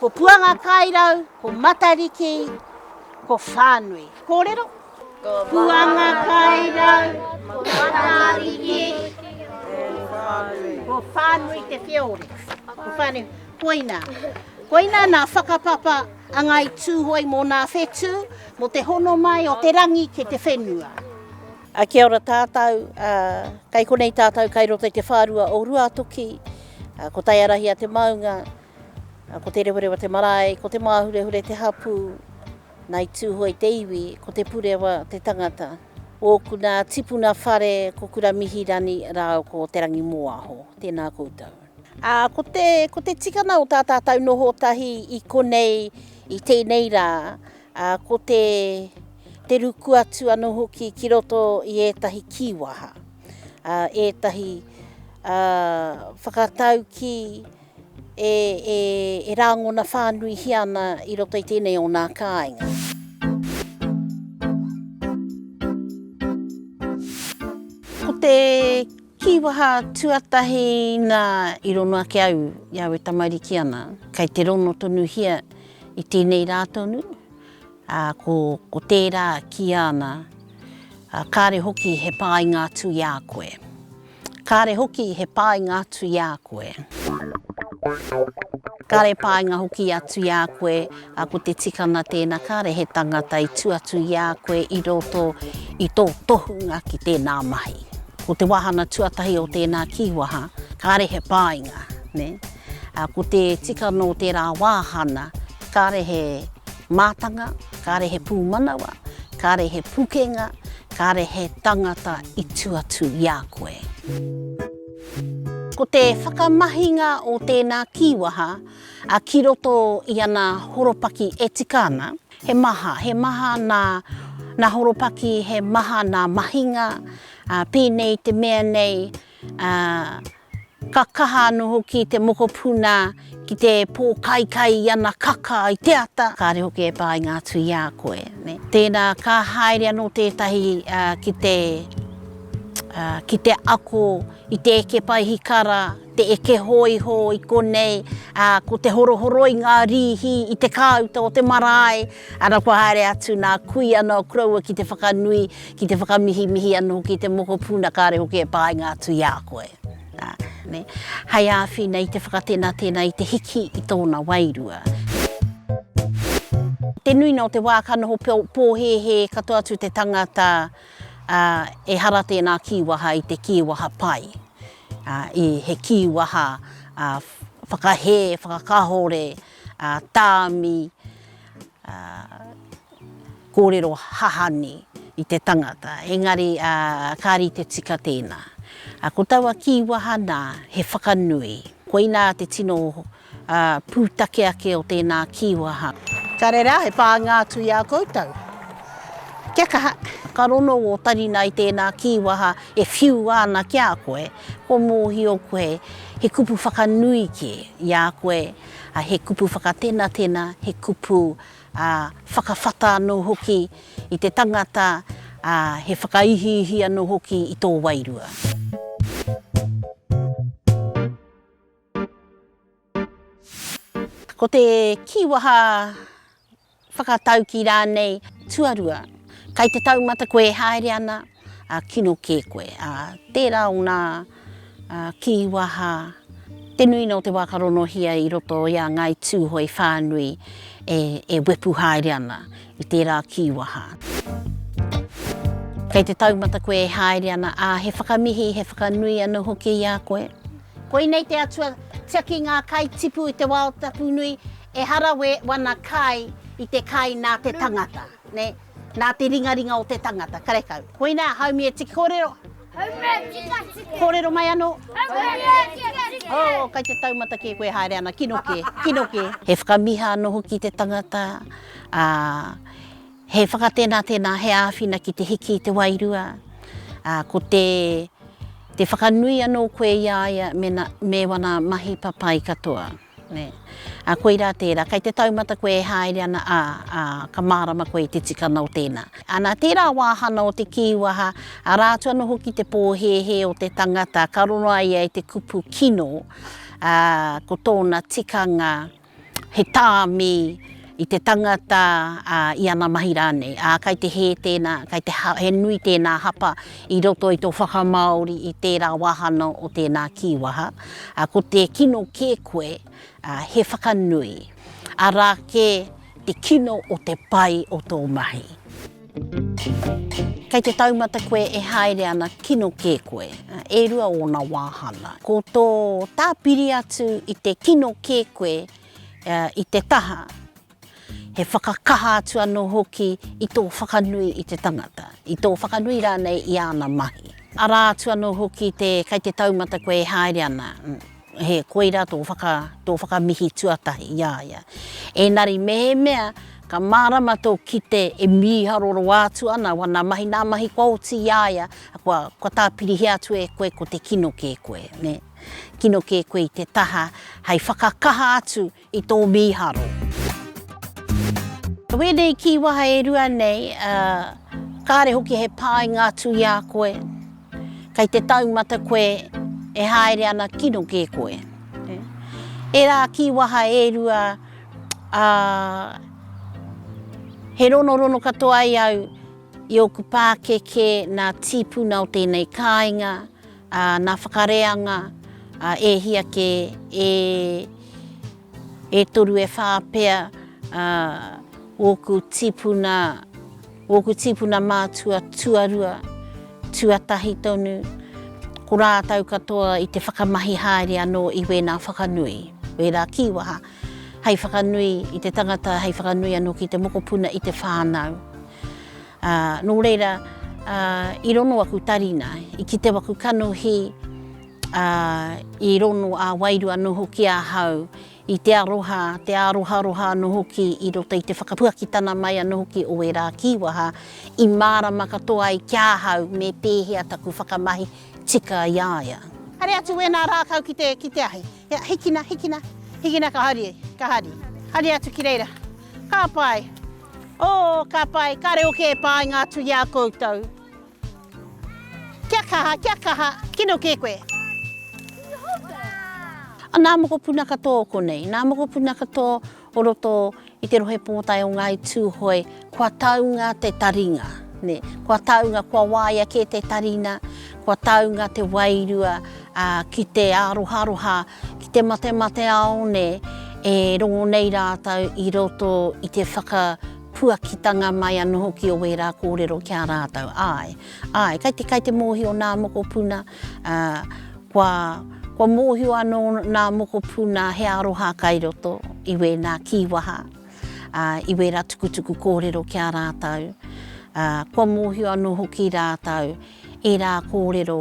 Ko Puangakairau, ko Matariki, ko Whānui. Kōrero. Ko Puangakairau, ko Matariki, ko Whānui te whiore. Ko Whānui, koina. Koina nā whakapapa a Ngāi Tūhoe mō nā whetū, mō te hono mai o te rangi ki te whenua. Kia ora tātou, kai konei tātou kai roto i te whārua o Ruatoki, ko Taiarahi a te Maunga. Ko Te Rewarewa te marae, ko Te Māhurehure te hapū, nā i Tūhoe te iwi, ko Te Purewa te tangata. Ōku nā tipuna whare ko Kuramihirani rāua ko Te Rangimōaho. Tēnā koutou. Ko te, ko te tikanga o tā tātou noho tahi i konei i tēnei rā, ko te, te ruku atu anō hoki ki roto i ētahi kīwaha, ētahi whakataukī, e, e, e rāngona whānuihia ana i roto i tēnei o nā kāinga. Ko te kīwaha tuatahi nā i rono ake au i au e tamariki ana, kei te rono tonuhia i tēnei rā tonu, ā, ko, ko tērā kia ana, ā, kāre hoki he pāinga atu i a koe. Kāre hoki he pāinga atu i a koe. Kāre pāinga hoki atu i a koe, ā, ko te tikanga tēnā, kāre he tangata i tū atu i a koe i roto i tō tohunga ki tēnā mahi. Ko te wāhanga tuatahi o tēnā kīwaha, kāre he pāinga, nē. Ā, ko te tika nō tērā wāhana, kāre he mātanga, kāre he pūmanawa, kāre he pukenga, kāre he tangata i tū atu i a koe. Ko te whakamahinga o tēnā kīwaha ki roto i ana horopaki e tika ana, he maha, he maha nā horopaki, he maha nā mahinga, pēnei te mea nei, Ka kaha anō hoki te mokopuna ki te pōkaikai i ana kaka i te ata. Kāre hoki e pānga atu i a koe. Tēnā, ka haere anō tētahi ki te, ki te ako i te eke paihikara, te eke hōiho i konei, ā, ko te horohoroi ngā rīhi i te kāuta o te marae. Ara kua haere atu nā kui anō koroua ki te whakanui, ki te whakamihimihi anō hoki i te mokopuna kāre hoki e pāinga atu i a koe. Hei āwhina i te whakatenatena i te hiki i tōna wairua. Te nuinga o te wā ka noho pōhēhē katoa atu te tangata ehara tēnā kīwaha i te kīwaha pai, he kīwaha whakahē, whakakahore, a tāmi, a kōrero hahani i te tangata, engari a ka rite tika tēnā. A ko taua kīwaha nā, he whakanui. Koinā te tino pūtake ake o tēnā kīwaha. Ka reira, he pānga atu i a koutou. Kia kaha! Ka rongo ō taringa i tēnā kīwaha e whiua ana ki a koe. Kua mōhio koe he kupu whakanui kē i a koe, he kupu whakatenatena, he kupu whakawhata anō hoki i te tangata, he whakaihiihi anō hoki i tō wairua. Ko te kīwaha whakataukī rānei tuarua, kai te taumata koe e haere ana, kino kē koe. Tērā o ngā kīwaha, te nuinga o te wā ka ronohia i roto i a Ngāi Tūhoe whānui e wepu haere ana i tērā kīwaha. Kei te taumata koe e haere ana, ā, he whakamihi, he whakanui anō hoki i a koe. Koinei te atua tiaki ngā kai tipu i te wā o Tapunui, ehara we wana kai i te kai nā te tangata, ne, nā te ringaringa o te tangata, karekau. Koina haumi e tiki korero. Haumi e tika tiki. Korero mai ano. Haumi e tika tiki. Oh, kai te taumata ke koe haere ana, kino ke, kino ke. He whakamiha ano hoki te tangata, a. He whakatena tena, he āwhina ki te hiki i te wairua, a, ko te, te whakanui anō koe i a ia mena, me wana mahi papai katoa. Ne. A, koirā tērā, kei te taumata koe e haere ana, ā, ā, ka mārama koe i te tikanga o tēnā. A, nā tērā wāhana o te kīwaha, arā atu anō hoki te pōhēhē o te tangata ka rongo ai ia i te kupu kino, ā, ko tōna tikanga, He tāmi i te tangata, ā, i ana mahi rānei. Ā, kei te hē tēnā, kei te ha, he nui tēnā hapa i roto i tō whakamāori i tērā wāhanga o tēnā kīwaha, ā, ko te kino kē koe, ā, he whakanui. Arā kē te kino o te pai o tō mahi. Kei te taumata koe e haere ana kino kē koe, e rua ōna wāhanga. Ko tō tāpiri atu i te kino kē koe i te taha, he whakakaha atu anō hoki i tō whakanui i te tangata, i tō whakanui rānei i āna mahi. Arā atu anō hoki te kei te taumata koe e haere ana. He koirā tō whaka, tō whakamihi tuatahi i a ia. Ēnari mēhemea ka mārama tō kite e mīharo roa atu ana wana mahi, nā mahi kua oti i a ia, kua, kua tāpirihia atu e koe ko te kino kē koe, nē. Kino kē koe i te taha hei whakakaha atu i tō mīharo. Ko ēnei kīwaha e rua nei, kāre hoki he pāinga atu i a koe, kei te taumata koe e haere ana kino kē koe. Ērā kīwaha e rua, he ronorono katoa ai au i ōku pākeke nā tīpuna o tēnei kāinga, Ā, nā whakareanga a Ēhia kē, e, e toru e whā pea, ā, ōku tīpuna, ōku tīpuna mātua tuarua, tuatahi tonu, ko rātou katoa i te whakamahi haere anō i wēnā whakanui, wērā kīwaha, hei whakanui i te tangata, hei whakanui anō ki te mokopuna i te whānau. Ā, nō reira, ā, i rono aku tari nā, i kitea aku kanohi, ā, i rono ā-wairua anō hoki ahau i te aroha, te āroharoha anō hoki i roto i te whakapuakitana mai anō hoki o ērā kīwaha i mārama katoa ai ki ahau me pēhea taku whakamahi tika i a ia. Haere atu wēnā rākau ki te, ki te ahi. Ia, hikina, hikina. Hikina ka hari, ka hari. Hari atu ki reira. Ka pai. Oo, ka pai. Ka reo kē pāinga atu i a koutou. Kia kaha, kia kaha. Kino kē koe. Nā mokopuna katoa konei. Nā mokopuna katoa o roto i te Rohe Pōtae o Ngāi Tūhoe, kua taunga te taringa, nē, kua taunga, kua waia kē te tarina, kua taunga te wairua ki te āroharoha, ki te matemateao, nē, e rongo nei rātou i roto i te whakapuakitanga mai anō hoki o wērā kōrero ki a rātou. Āe, āe, kei te, kei te mōhio nā mokopuna, Ā, kua, kua mōhio anō nā mokopū nā he aroha kai roto i wēnā kīwaha, ā, i wērā tukutuku kōrero ki a rātou. Ā, kua mōhio anō hoki rātou ērā kōrero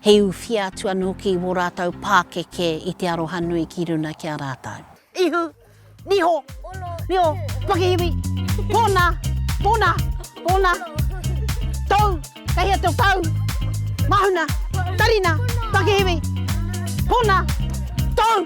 he uwhia atu anō hoki i wō rātou pākeke i te aroha nui ki runa ki a rātou. Ihu, Niho, niho, pakihiwi, pona, pona, pona, tou, kei hea teo tau, mahuna, tarina, pakihiwi, pona, tou.